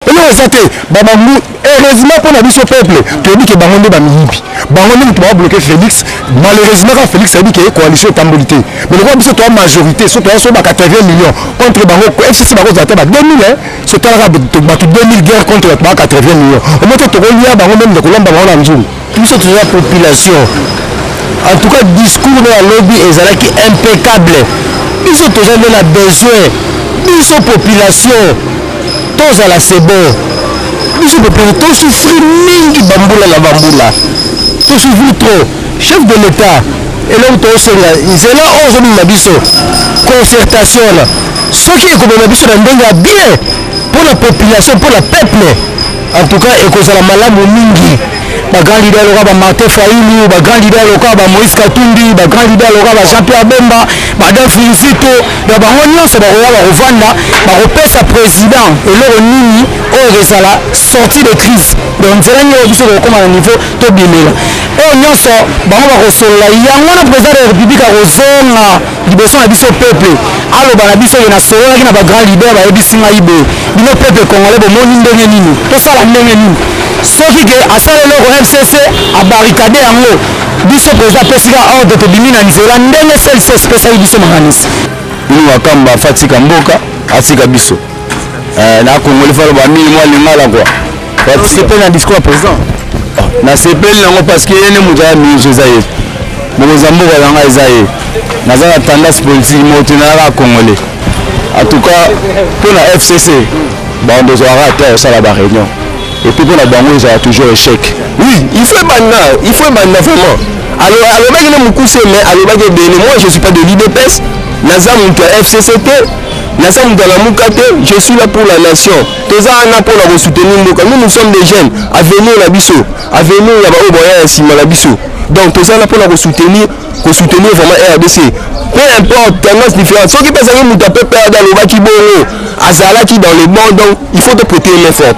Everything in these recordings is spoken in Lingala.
Elo eza te ba bangu heureusement mpo na biso peuple toyebi ke bango nde bamiyibi bango nde moto babloke Felix malheureusement kaka Felix ayebi ke coalition etamboli te mais lokola biso toya majorité so toya so ba 80 millions contre bango FCC bakozala te ba 2000 eh so talaka bato 2000 guerre contre bato ba 80 millions omoto tokolia bango meme nde kolomba bango na nzungu Biso toza population. En tout cas discours na lobi ezalaki impeccable. Biso toza nde na besoin. Biso population tozala c'est bon. Biso population to souffrir mingi bambula na bambula. To souffrir trop. Chef de l'État eloko tozosenga nzela oyo ozobima biso concertation wana soki ekomema biso na ndenge ya bien mpo na population mpo na peuple En tout cas ekozala malamu mingi ba grand leader loka ba Martin Fayulu ba grand leader loka ba Moïse Katumbi ba grand leader loka ba Jean-Pierre Bemba ba Adolphe Muzito donc bango nyonso bakoya bakovanda bakopesa président eloko nini oyo ekozala sortie de crise donc nzela nini oyo biso tokokoma na niveau tobimela oyo nyonso bango bakosolola yango wana président de la république akozonga liboso na biso peuple aloba na biso ye nasololaki na ba grand leader bayebisi ngai boye bino peuple congolais bomoni ndenge nini tosala ndenge nini soki ke asala eloko mcc abarikade yango biso president apesika ordre tobimi na nzela ndenge clc esipesaki biso makanisi bino wakamba afa atika mboka atika biso Eh, na congolais falo ba mingi mwa lingala kwa osepeli na discours ya président ah, nasepeli nango parce que ye nde moto aya mingi eza ye mokonzi ya mboka na ngai eza ye naza na tendance politique moto nayaka congolais en tout cas mpo na fcc bando ezalaka ata osala ba réunion epuis mpo na bango ezala toujours échec oui il faut ebanda il faut ebanda vraiment alobaki na mokuse mais alobaki ebele moi je suis pas de l'idps naza moto ya fcc te naza moto alamuka te je suis là pour la nation toza wana mpo na kosoutenir mboka nous nous sommes des jeunes avenir na biso avenir ya baoyo baya ya nsima na biso donc toza wana mpo na kosoutenir kosoutenir vraiment rdc peu importe tendance différente soki mpe azalaki moto ya peuple ada alobaki bongo azalaki dans le bon donc il faut toprete main forte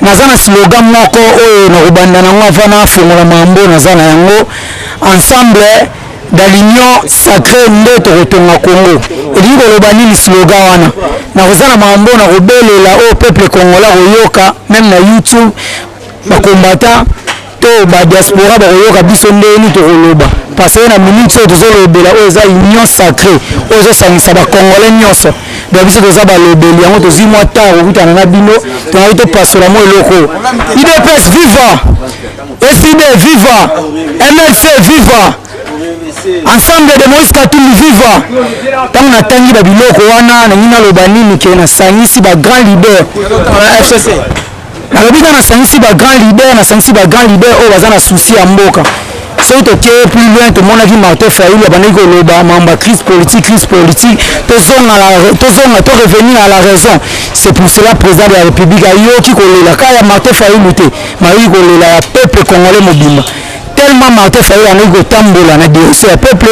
Naza na slogan moko oyo nakobanda nango avant nafongola mambo naza na yango ensemble dans l'union sacrée nde tokotonga Congo elingi koloba nini slogan wana nakoza na mambo nakobelela oyo peuple congolais akoyoka meme na YouTube bakombata To ba diaspora bakoyoka biso ndenge nini tokoloba parce que na minute oyo tozolobela oyo eza union sacre oyo ezosangisa ba congolais nyonso donc biso toza balobeli yango tozwi mwa ntango kokutana na bino tongaki topasola mwa eloko idps viva ecd viva mlc viva ensemble de moïse katumbi viva ntango natangi babiloko wana nangi naloba nini ke nasangisi bagrand leader na fcc nalobi nga nasangisi ba grand leader nasangisi ba grand leader oyo baza na souci ya mboka soki tokei plus loin tomonaki martin fayulu abandaki koloba mambo ya crise politique crise politique tozonga tozonga to revenir à la raison c'est pour cela président de la république ayoki kolela kaka ya martin fayulu te mayoki kolela ya peuple congolais mobimba tellement Martin Fayulu angoki kotambola na direction ya peuple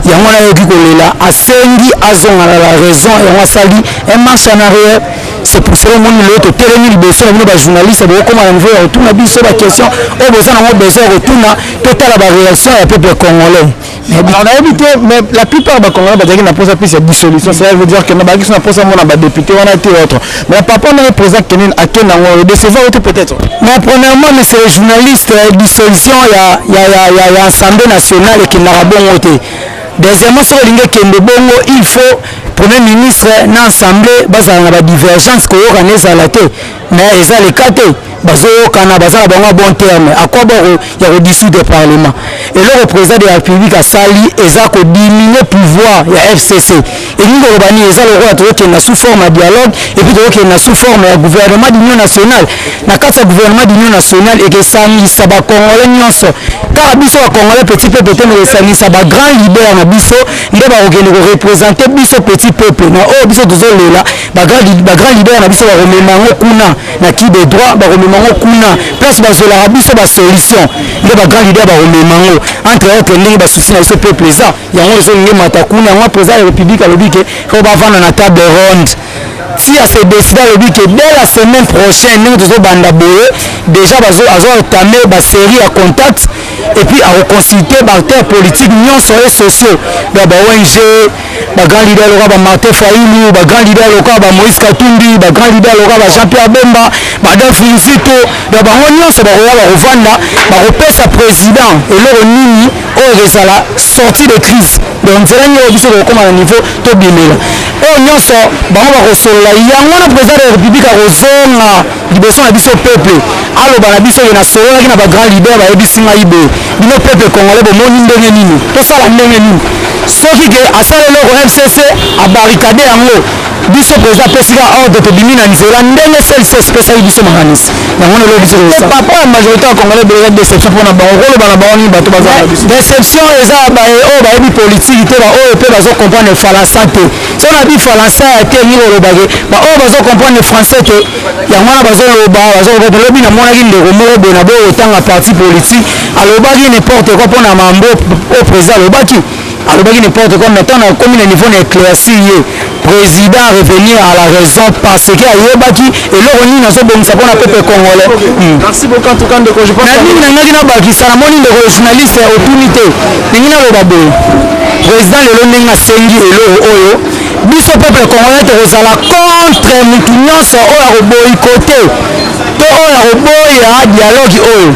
yango wana ayoki kolela asengi azonga na la raison yango asali un marche en arrière c'est pour cela omoni lelo totelemi liboso na bino bajournaliste bokokoma na niveau ya kotuna biso baquestion oyo boza nango besoin ya kotuna totala bareaction ya peuple congolais nayebi te mais la plupart bakongolais bazalaki na mposa plus ya dissolution cela veut dire que na bakisi na mposa mona badepute wana te autre mais na papa ndenge président kenene akenda yango edecevoir yo te peut-être mais premièrement monsieur le journaliste euh, dissolution ya, ya, ya, ya, ya assemblée nationale ekendaka bongo te deuxièmement soki olingi ekende bongo il faut premier ministre na assemblée bazala na badivergence koyokana ezala te mais eza le cas te bazoyokana baza na bango ya bon terme à quoi bon ya kodissoudre parlement eloko président de la république asali eza kodiminue pouvoir ya fcc elingi koloba nini eza lokola tozokende na sous forme ya dialogue epuis tozokende na sous forme ya gouvernement d'union nationale na kati ya gouvernement d'union nationale ekesangisa bacongolais nyonso kaka biso bacongolais petit peuple te mekesangisa bagrand leader na biso nde bakokende korepresente biso petit peuple na oyo biso tozolela ba grand ba grand leader na biso bakomema yango kuna na qui de droit bakomema yango kuna place bazwelaka biso ba solution nde ba grand leader bakomema yango entre autres ndenge basusi na biso peuple eza yango ezonge mata kuna yango président ya république alobi ke fo bavanda na table ronde si ase décide alobi ke dès la semaine prochaine ndenge tozobanda boye déjà bazo azo entame ba série ya contact et puis akoconsulte ba acteurs politiques nyonso et sociaux ya ba ong ba grand leader loka ba Martin Fayulu ba grand leader loka ba Moïse Katumbi ba grand leader loka ba Jean Pierre Bemba ba Adolphe Muzito na bango nyonso bakoya bakovanda bakopesa président eloko nini oyo ekozala sortie de crise donc nzela nini oyo biso tokokoma na niveau tobimela oyo nyonso bango bakosolola yango wana président de la république akozonga liboso na biso peuple aloba na biso ye nasololaki na ba grand leader bayebisi ngai boye bino peuple congolais bomoni ndenge nini tosala ndenge nini soki ke asala eloko fcc abarikade yango biso president apesi ka ordre tobimi na nzela ndenge clc esipesaki biso makanisi yango na lobi biso papa ya majorité ya congolais ebeleka déception mpona bango koloba na bango nini bato baza na biso déception eza baye oyo bayebi politiki te baoyo mpe bazo comprendre falasa te so na bifalansa ya te nini olobake baoyo bazo comprendre français te yango wana bazoloba bazoloba lobi namonaki ndeko moko boye na boye otanga parti politique alobaki n'importe quoi mpona mambo oyo président alobaki alobaki n'importe quoi maintenant nakomi na niveau na éclairci ye président revenir à la raison parce que ayebaki eloko nini azobongisa mpona peuple congolais hmm. na nini nangaki nabakisa namoni ndeko journaliste otuni te Ningi naloba boye, president lelo ndenge asengi eloko oyo biso peuple congolais tokozala contre mutu nyonso oyo akoboyikote to oyo akoboya dialogue oyo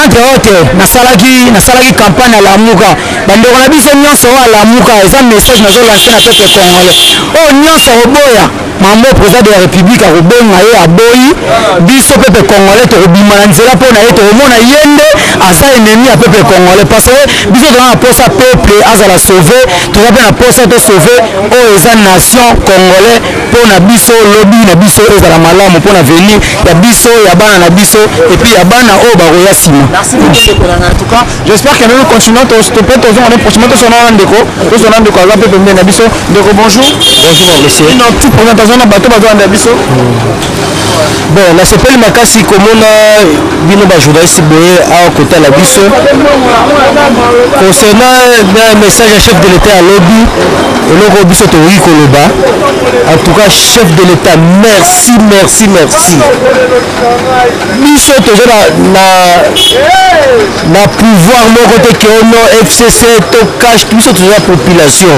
entre autre nasalaki nasalaki campagne ya lamuka bandeko na biso nyonso oyo alamuka eza message nazolanse na peuple congolais oyo nyonso akoboya Mambo president de la republique akobonga ye aboyi biso peuple congolais tokobima na nzela mpo na ye tokomona ye nde aza ennemi ya peuple congolais parce que biso toza na posa peuple azala sauve toza mpe na posa to sauve oyo eza nation congolais mpo na biso lobi na biso ezala malamu mpo na venir ya biso ya bana na biso epuis ya bana oyo bakoya nsima J'espère que nous continuons to stopper to zona prochainement to sona ndeko to sona ndeko aza pe pembeni na biso ndeko bonjour bonjour monsieur non tout premier temps na bato bazo na biso bon nasepeli makasi komona bino bajournaliste boye awa kotala biso concernant na message ya chef de l'état ya lobi eloko biso tokoki koloba en tout cas chef de l'état merci merci merci biso toza na, na, na pouvoir moko te ke ono fcc to cash biso toza population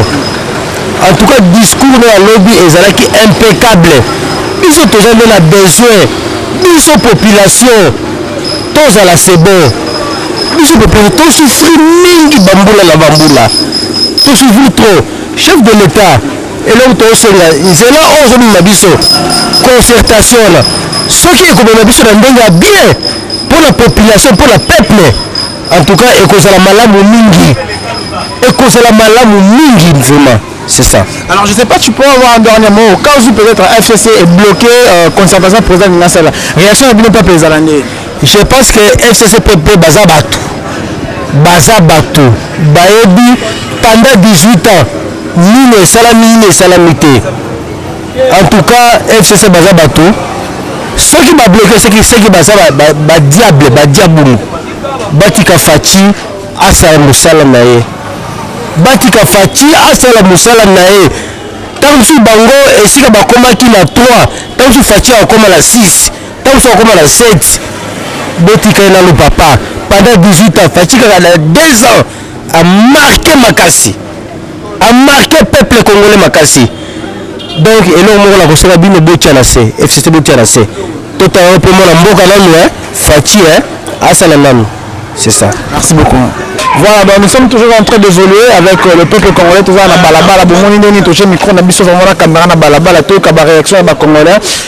en tout cas discours na ya lobi ezalaki impeccable biso toza nde na besoin biso population tozala c'est bon biso population tosufri mingi bambula na bambula tosufri trop chef de l'état eloko tosenga nzela oyo ozobima biso concertation wana soki ekobima biso na ndenge ya bien mpo na population mpo na peuple en tout cas ekozala malamu mingi ekozala malamu mingi vraiment c'est ça alors je sais pas tu peux avoir un dernier mot au cas où peut-être fcc est bloqué euh, concertation président de la salle réaction ya bino peuple ezala nde je pense que fcc pepe baza bato baza bato bayebi pendant 18 ans nini esalami nini esalami te en tout cas fcc baza bato soki babloke soki soki baza badiable badiabulu batika faci asala mosala na ye batika faci asala mosala na ye ntango mosusu bango esika bakomaki na 3 ntango mosusu faci akoma na 6 Tango soki akoma na 7 botika ye nanu papa pendant 18 ans Fatshi kaka na 2 ans a marquer makasi a marquer peuple congolais makasi donc eloko moko na kosenga bino botia na se fcc botia na se tota yango mpe mwana mboka nanu eh, Fatshi eh, asala nanu c'est ça merci beaucoup Voilà, donc nous sommes toujours en train d'évoluer avec euh, le peuple congolais, tout ça, na balabala, bomoni nini, toche micro, na biso, vraiment, la caméra, na balabala, tout, kaba réaction, ba congolais.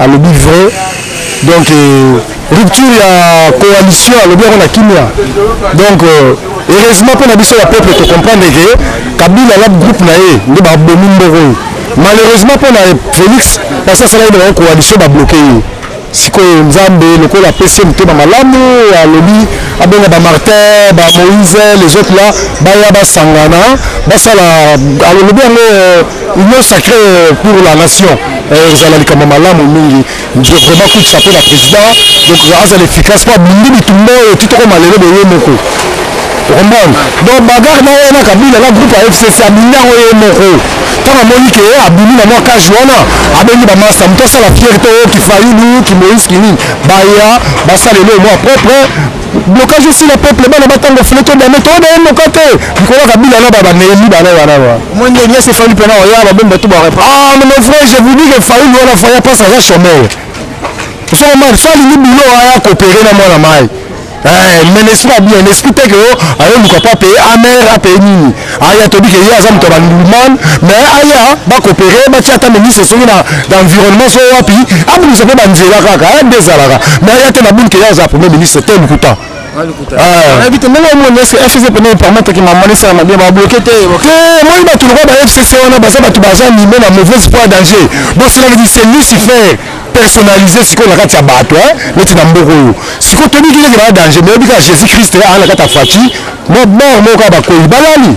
alobi vrai donc euh, rupture ya coalition alobi yango na kimia donc euh, heureusement mpo na biso ya peuple tocomprendre ke kabila na groupe na ye nde babomi mboko oyo malheureusement mpo na félix parce asalaki na bango coalition babloke ye sikoyo nzambe lokola apesi ye motema malamu alobi abenga bamartin bamoise les autres là baya basangana basala alobi yango euh, union sacré euh, pour la nation euh, ezala likambo malamu mingi je vraiment kutisa mpe na président donc azala efficace mpo abindi bitumba oyo ti tokoma lelo boye moko okomprendre donc bagarre na ye na kabila na groupe ya fcc abindi yango ye moko ntango amoni ke abimi na mwa kage wana abengi bamasta moto asala fierte oyo kifayulu kimoïse kinini baya basala eloo mwa propre blocage esila peuple bana batanga ofele to dame to dame moka te likolo ya kabila na baba neeli bana wana wa moi nde nyasi efali mpena oya babomba to bare ah mais mon frère je vous dis que faulu wana faya pas aza chômeur osoko mani so alingi bilo aya coopere na mwana mai eh, mais n'esprit abien esprit te ke o ayoluka mpo apeye amer apeye nini aya tobi ke ye aza moto ya bandulman mais aya bakopere batia ata ministre soki na environnement so wapi abungisa mpe banzela kaka aya nde ezalaka mais aya te na buni ke ye aza premier ministre te lokuta nayebi te ndenge omoni eske fcc pene epermettre ke mama esala mabe babloke te moi bato lokola ba fcc wana baza bato baza nime na mauvaise foi danger bosolaka ki c'est lucifer personnalisé sikoyo na kati ya bato neti na mboka oyo sikoyo toyebi kikeke baya danger mais oyebi kaka jésus christ aa na kati ya faci na bar moko ya bakoyi balali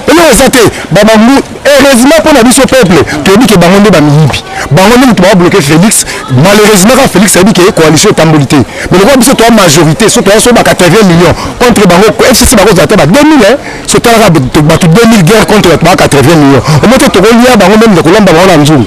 eloko eza te babangu heureusement mpo na biso peuple toyebi ke bango nde bamiyibi bango nde moto babloke félix malheureusement kaka félix ayebi ke coalition etamboli te mais lokola biso toya majorité so toya so ba 80 millions contre bango fcc bakozala te ba 2000 so talaka bato 2000 guerre contre bato ba 80 millions omo te tokolia bango meme nde kolamba bango na nzungu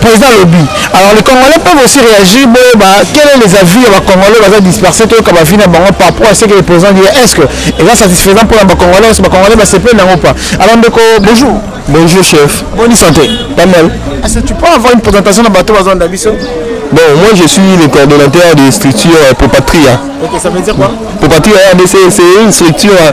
président alobi alors les congolais peuvent aussi réagir boyeba quel est les avis ya bacongolais baza disperse toyoka bavi na bango par rapport à ce que le président dit est ce que eza satisfaisant mpona bacongolais oso bacongolais basepeli nango pa alors ndeko bonjour bonjour chef boni santé pas mal est-ce que tu peux avoir une présentation na bato baza na biso Bon, moi je suis le coordonnateur des structures euh, Popatria. Ok, ça veut dire quoi Popatria RDC, c'est une structure euh,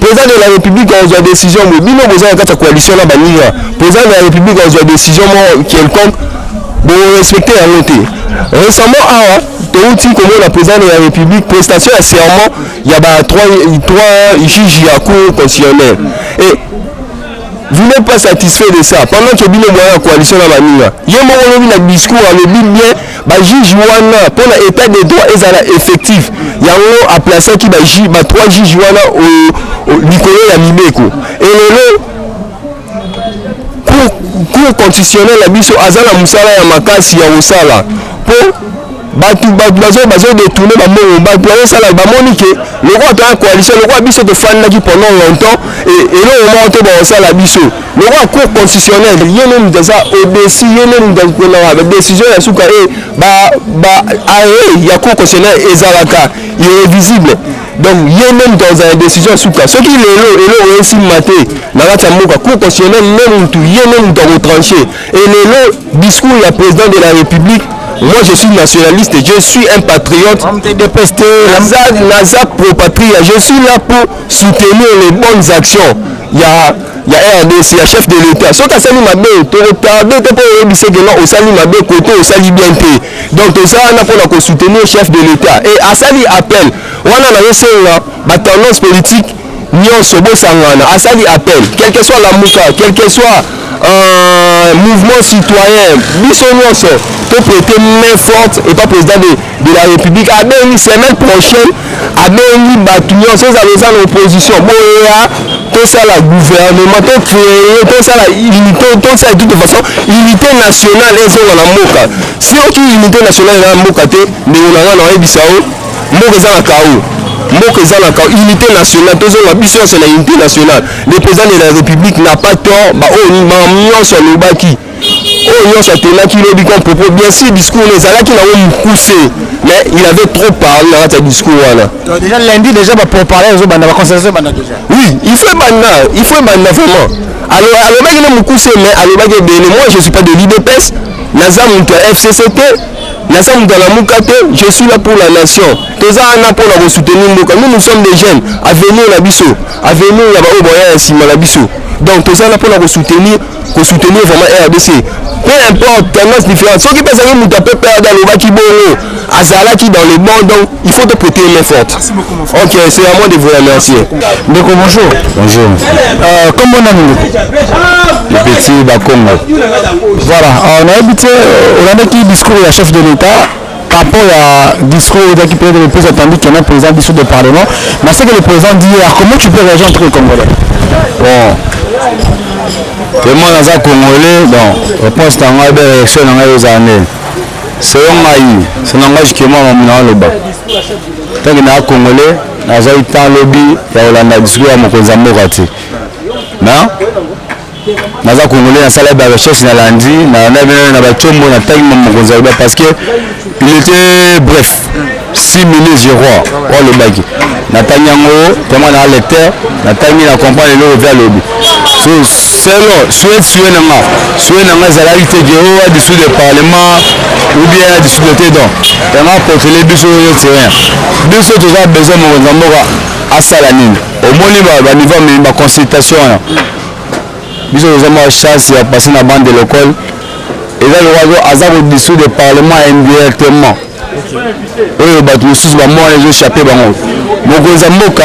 Président de la République akozwa décision mais bino boza na kati ya coalition na baninga président de la République akozwa décision moko quelconque respecter la montée. récemment awa touti la président de la république prestation ya serment ya ba trois juges ya cour constitutionnelle et vous n'êtes pas satisfait de ça pendant que bino moya ya coalition na baninga ye moko olobi na discours alobi bien Ba juges wana mpo na etat de droit ezala effectif, yango a placeaki ba juges, ba trois juges wana likolo ya mibeko. Et lelo cour, cour constitutionnelle na biso aza na mosala ya makasi ya kosala mpo bato bato bazo bazo detourne bambongo bato bazosala bamoni ke lokola toya coalition lokola biso tofandaki pendant longtemps eloko moko te bakosala biso lokola cour constitutionnel ye nde moto aza odesi ye nde moto akonaka badécision ya suka e baarrêt ya cour constitutionnel ezalaka irrévisible donc ye nde moto akozala décision ya suka soki lelo eloko esimba te na kati ya mboka cour constitutionnel nde motu ye nde moto akotranche e lelo discours ya président de la république Moi, je suis nationaliste, je suis un patriote. Naza pro-patria, je suis là pour soutenir les bonnes actions. Il y a ya rdc ya chef de l'etat soki asali mabe tokotarde te mpo oyebise ke non osali mabe kote osali bien te donc toza wana mpo na kosoutenir chef de l'etat e asali appel wana nazosenga batendance politique nyonso bosangana asali appel quelque soit lamuka quelque soit euh, mouvement citoyen biso nyonso toprete main forte epa président de de la république abengi semaine prochaine abengi bato nyonso ezala eza na opposition boya tosala gouvernement to créer tosala unité tosala toute façon unité nationale ezonga na mboka si oki unité nationale eza na mboka te ndeko na ngai na oyebisa yo mboka eza na kao mboka eza na kao unité nationale tozonga biso nyonso na unité nationale le président de la république n'a pas tort baoyo oh, nyonso alobaki oyo nyonso atenaki lobi comme propos bien sûr discours na ezalaki nango mokuse mais il avait trop parlé na kati ya discours wana déjà lundi déjà baproparler ezobanda baconcertation ebanda déjà oui il faut ebanda il faut ebanda vraiment alobaki na mokuse mais alobaki ebele moi je suis pas de l'idps naza moto ya fcc te naza moto ya lamuka te je suis là pour la nation toza wana mpo na kosoutenir mboka nous nous sommes des jeunes avenir na biso avenir ya baoyo baya ya nsima na biso donc toza wana mpo na kosoutenir ko soutenir vraiment rdc peu importe tendance différente soki mpe azalaki moto ya pprd alobaki bongo azalaki dans le bon donc il faut toprêter main forte ok c'est à moi de vous remercier ndeko bonjour bonjour euh, kombo nani ndeko le petit bakongo voilà euh, nayebi te euh, olandaki discours ya chef de l'état par rapport ya discours ozaki peut-être le plus attendu qui est président biso de parlement mais ce que le président dit hier comment tu peux réagir en tant que congolais bon te moi naza congolais bon réponse na ngai be réaction na ngai ozala nini selon ngai se na ngai jikema mamu na aloba ntango naa congolais nazali temps lobi ya kolanda discours ya mokonzi ya mboka te na naza congolais nasala ba recherche na landi na na bino na ba chombo na tangi mokonzi aloba parce que il était bref six minutes je crois oyo alobaki natangi yango vraiment na lecteur natangi na comprendre eloko mpe alobi so selo souhaite souhaite na nga souhaite na nga ezalaki te ke oyo adisu de parlement ou bien adisu de te donc yango apotele biso oyo terrain biso toza besoin mokonzi ya mboka asala nini omoni baniveau amemi baconsultation wana biso toza mwa chance ya passe na bande de l'école eza lokola aza kodissoudre le parlement indirectement oyo bato mosusu bambo wana ezochape bango mokonzi ya mboka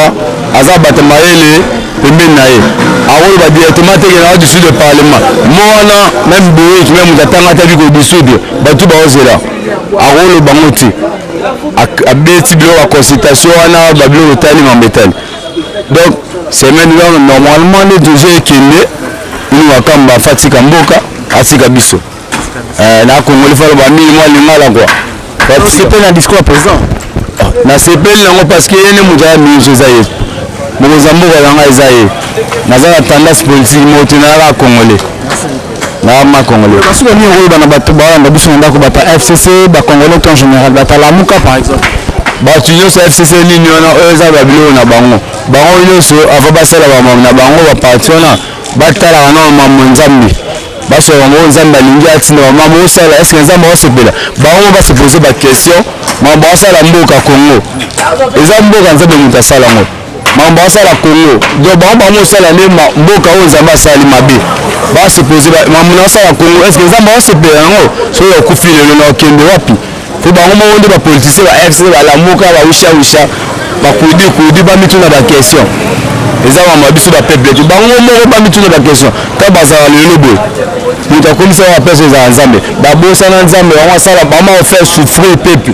aza bato mayele pembeni na ye akoloba directement te kena dissoudre le parlement mo wana meme boyek meme moto atanga ataki kodissoudre bato baozela akoloba bango te abeti biloko ya consultation wana babiloko etali mambo etali donc semaine wana normalement nde tozo ekende ini makambo afa atika mboka atika biso eh, na congolais falo bamili mwa lingala kua osepeli na discours ya président ah, nasepeli nango parce que ye nde moto aya minso eza ye mokonzi ya mboka na ngai eza ye naza na tendance politique moto nayaka congolais na ma congolais kasi ba nini oyeba na bato balanda biso na ndako bata fcc ba congolais to en général bata lamuka par exemple bato nyonso fcc nini wana oyo eza babiloko na bango bango nyonso ava basala bamamo na bango baparti wana batalaka na mambo nzambe basoka bango nzambe alingi atinda bamamo osala eske nzambe asepela bango basepose baquestion mambo asala mboka congo eza mboka nzambe moto asala yango Makambo asala Congo donc bango bango osala nde mboka oyo Nzambe asali mabe ba supposer ba makambo na asala Congo est-ce que Nzambe asepela yango soki okufi lelo na okende wapi po bango moko nde ba politiciens ba FC ba lamuka ba usha usha ba kudi kudi ba mituna ba question eza makambo ya biso ba peuple te bango moko ba mituna ba question ka bazala lelo boye moto akomisa ba place ezala Nzambe babosana Nzambe bango asala bango ofele souffrir peuple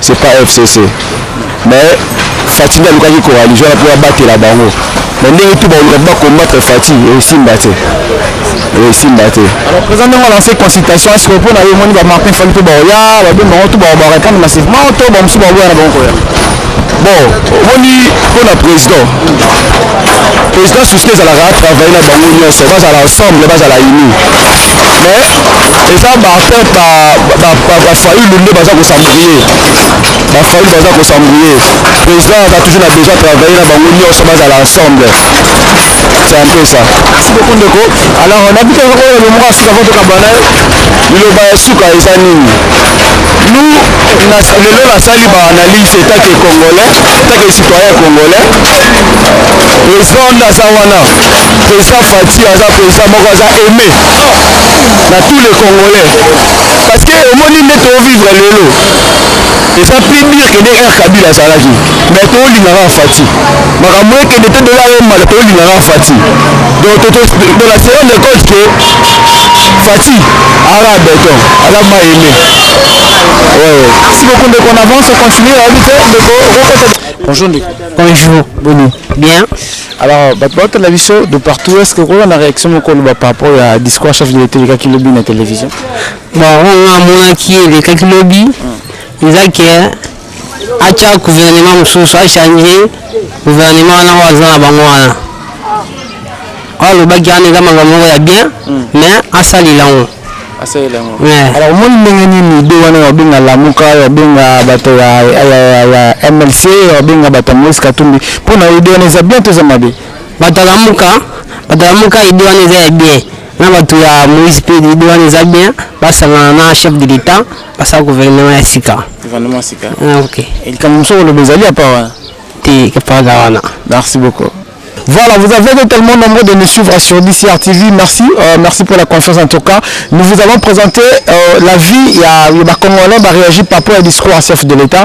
c'est pas fcc mais fati nde alukaki coalition wana mpo abatela bango na ndenge tu baoluka mpo bacombattre fati esimba te esimba te alors président ndenge olance consultation est ce que mpo na yo omoni bamartin fali mpe baoya babe bango tu bao barépondre massivement to bamosusu baoboya na bango koya bon omoni mpo na président président suski ezalaka travaille na bango nyonso bazala ensemble bazala uni mais eza baatteinte bafayulu nde baza kosambouye bafayulu baza kosambouye président aza toujours na besoin travaille na bango nyonso bazala ensemble c'est un peu ça merci beaucoup ndeko alors nabiki yango oyo lomoko ya suka mpo tokabana ye liloba ya suka eza nini Nous, lelo nasali ba analyse etat que congolais etat que citoyen congolais président nde aza wana président fati aza président moko aza aimé na tous les congolais parce que omoni nde tovivre lelo eza plus dire que nde r kabila azalaki mais tolingaka fati makambo ekende te dolare mbala tolingaka fati donc on a se rendre compte que Fatih aza beton aza mai aime ouais, ouais. merci beaucoup ndeko on avance on continue ayebi te ndeko okokota bonjour ndeko bonjour boni bien alors bato baotala biso de partout est ce que okola na réaction moko oloba par rapport ya discours chef de l'état elekaki lobi na télévision bon oyo amonaki elekaki lobi eza ke acha gouvernement mosusu achange gouvernement wana oyo aza na bango wana oyo alobaki wana eza makambo moko ya bien hmm. mais asalela yango alors omoni ndenge nini ide wana wabenga lamuka wabenga bato ya mlc wabenga bato ya moise katumbi mpo na ide wana eza bien to eza mabe bato ya lamuka bato ya lamuka ide wana eza ya bien na bato ya moise mpe ide wana eza bien basangana na chef de l'etat basala gouvernement ya sika gouvernement sika ah, ok likambo mosusu koloba ezali apa wana te kapaga wana merci beaucoup Voilà, vous avez été tellement nombreux de nous suivre sur DCR TV. Merci, euh, merci pour la confiance en tout cas. Nous vous avons présenté euh, la vie, il y a, il y a Congolais, bah, réagi par rapport au discours à chef de l'État.